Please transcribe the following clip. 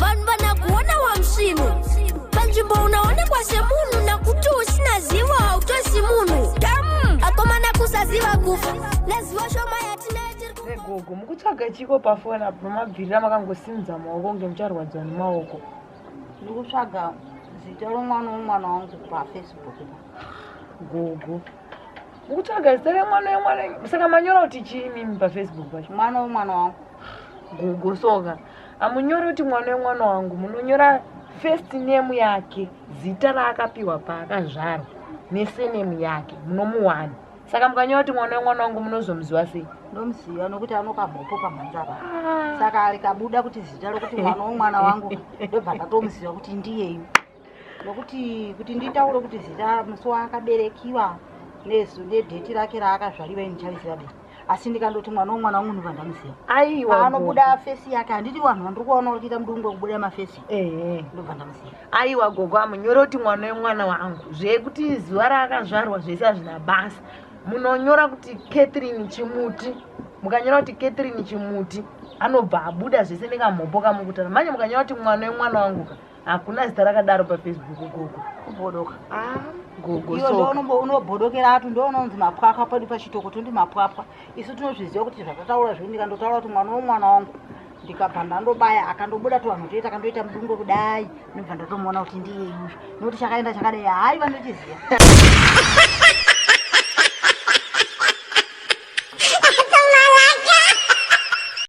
vanhu vanakuona wamsvinu panzvimbo unaonekwa semunhu nakuti usina zivo hautosi munhu dam akomana kusaziva kufa nezivo shoma yatinayo gogo mukutsvaga chiko pafoni apo pamabvirira makangosimudza maoko kunge mucharwadziwa nemaoko ndikutsvaga zita romwana womwana wangu pafacebook gogo Ukutsvaga zita remwana wemwana saka manyora kuti chii mimi pafacebook pacho? Mwana wemwana wangu. Gogo soka. Amunyori kuti mwana wemwana wangu munonyora first name yake zita raakapiwa paakazvarwa nesenemu yake munomuwana saka mukanyora kuti mwana wemwana wangu munozomuziva sei ndomuziva nokuti anokamhopo pamhanzava ah. saka ari kabuda kuti zita rokuti mwana wemwana wangu ndobva ndatomuziva kuti ndiyeyu nokuti kuti nditaure kuti zita musi waakaberekiwa nezu nedheti rake raakazvariwa ini ndichariziva be asi ndikandoti mwana womwana wamunhu vandamuziva aiwa anobuda fesi yake handiti vanhu vandiri kuvaona vari kuita mudungu wekubuda mafesi ndobva ndamuziva aiwa gogo amunyore kuti mwana wemwana wangu zvekuti zuva raakazvarwa zvese hazvina basa munonyora kuti catherine chimuti mukanyora kuti catherine chimuti anobva abuda zvese nekamhopo kamukutana manje mukanyora kuti mwana wemwana wangu ka hakuna zita rakadaro pafacebook gogo kubodoka ah, gogounobhodokera atu ndounonzi mapwapwa padi pachitoko tondi mapwapwa isu tinozviziva kuti zvatataura zvii ndikandotaura kuti mwana womwana wangu ndikabva ndandobaya akandobuda to vanhu toita akandoita mudungo kudai ndobva ndatomuona kuti ndiye yuyu nokuti chakaenda chakadai hayi vanochiziva